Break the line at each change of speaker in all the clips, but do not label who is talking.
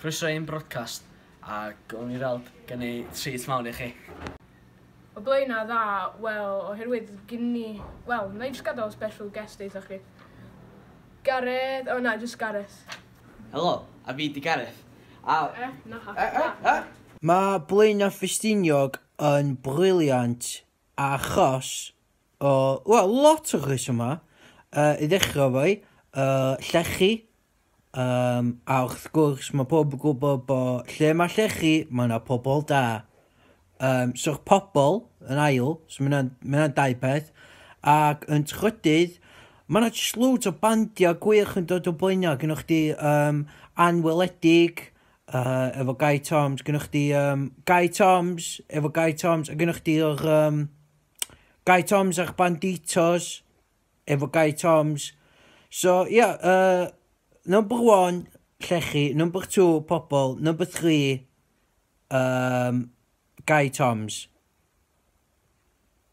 Croeso i'n broadcast, a gawn ni weld gen i treat mawr i chi. O blaenau dda, wel, oherwydd gyn ni... Wel, na i jyst gadael special guest eitha chi. Gareth, o oh, na, jyst Gareth. Helo, a fi di Gareth. A... Eh, na, ha, eh, eh, na. Eh. Mae Blaenau Ffestiniog yn brilliant achos o, wel, lot o resymau. Uh, I ddechrau efo i, uh, llechi, um, a wrth gwrs mae pob yn gwybod bod lle mae llechi, mae yna pobl da. Um, So'r pobl yn ail, so mae yna'n dau peth, ac yn trydydd, mae yna jyst loads o bandiau gwych yn dod o blaenau, gynnwch chi um, anweledig, Uh, efo Guy Toms, gynnwch chdi um, Guy Toms, efo Guy Toms, a gynnwch chdi o'r um, Guy Toms a'ch Banditos, efo Guy Toms. So, ia, yeah, uh, number one, llechi, number two, pobl, number three, um, Guy Toms.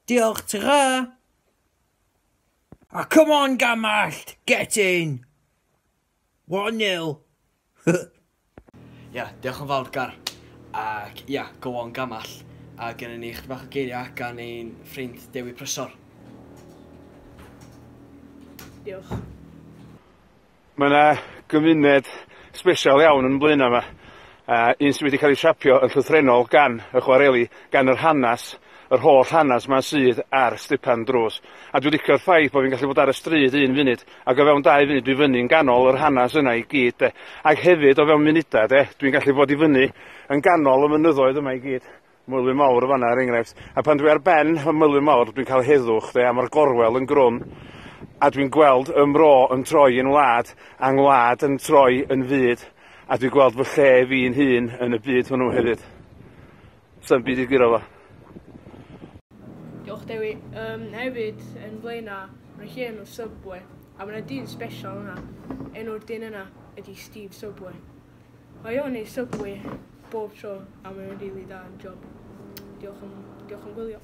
Diolch, tra! A come on, Gamallt, get in! 1-0. Ia, diolch yn fawr Gar. Ac ia, go on Gamall. A gynnu ni chdi bach o geiriau gan ein ffrind Dewi Prysor. Diolch. Mae yna gymuned sbesial iawn yn Blaenau yma, a un sydd wedi cael ei siapio yn llythrennol gan y chwareli, gan yr hanes, yr holl hanes yma sydd ar Stipan Drws. A dwi'n licio'r ffaith bod fi'n gallu bod ar y stryd un funud Ac o fewn dau funud dwi fyny yn ganol yr hanes yna i gyd 'de. Ac hefyd o fewn munuda 'de dwi'n gallu bod i fyny yn ganol y mynyddoedd yma i gyd. Moelwyn Mawr yn fanna er enghraifft. A pan dwi ar ben y Moelwyn Mawr dwi'n cael heddwch 'de a ma'r gorwel yn grwn a dwi'n gweld 'y mro yn troi yn wlad a 'ngwlad yn troi yn fyd a dwi'n gweld fy lle fi'n hun yn y byd hwnnw hefyd. Sa'm byd i guro fo. Diolch Dewi. Um, hefyd, yn Blaena, mae lle enw Subway, a mae yna dyn special yna. Enw'r dyn yna ydy Steve Subway. Mae o'n ei Subway bob tro, a mae'n rili really da yn job. Diolch yn, diolch yn gwylio.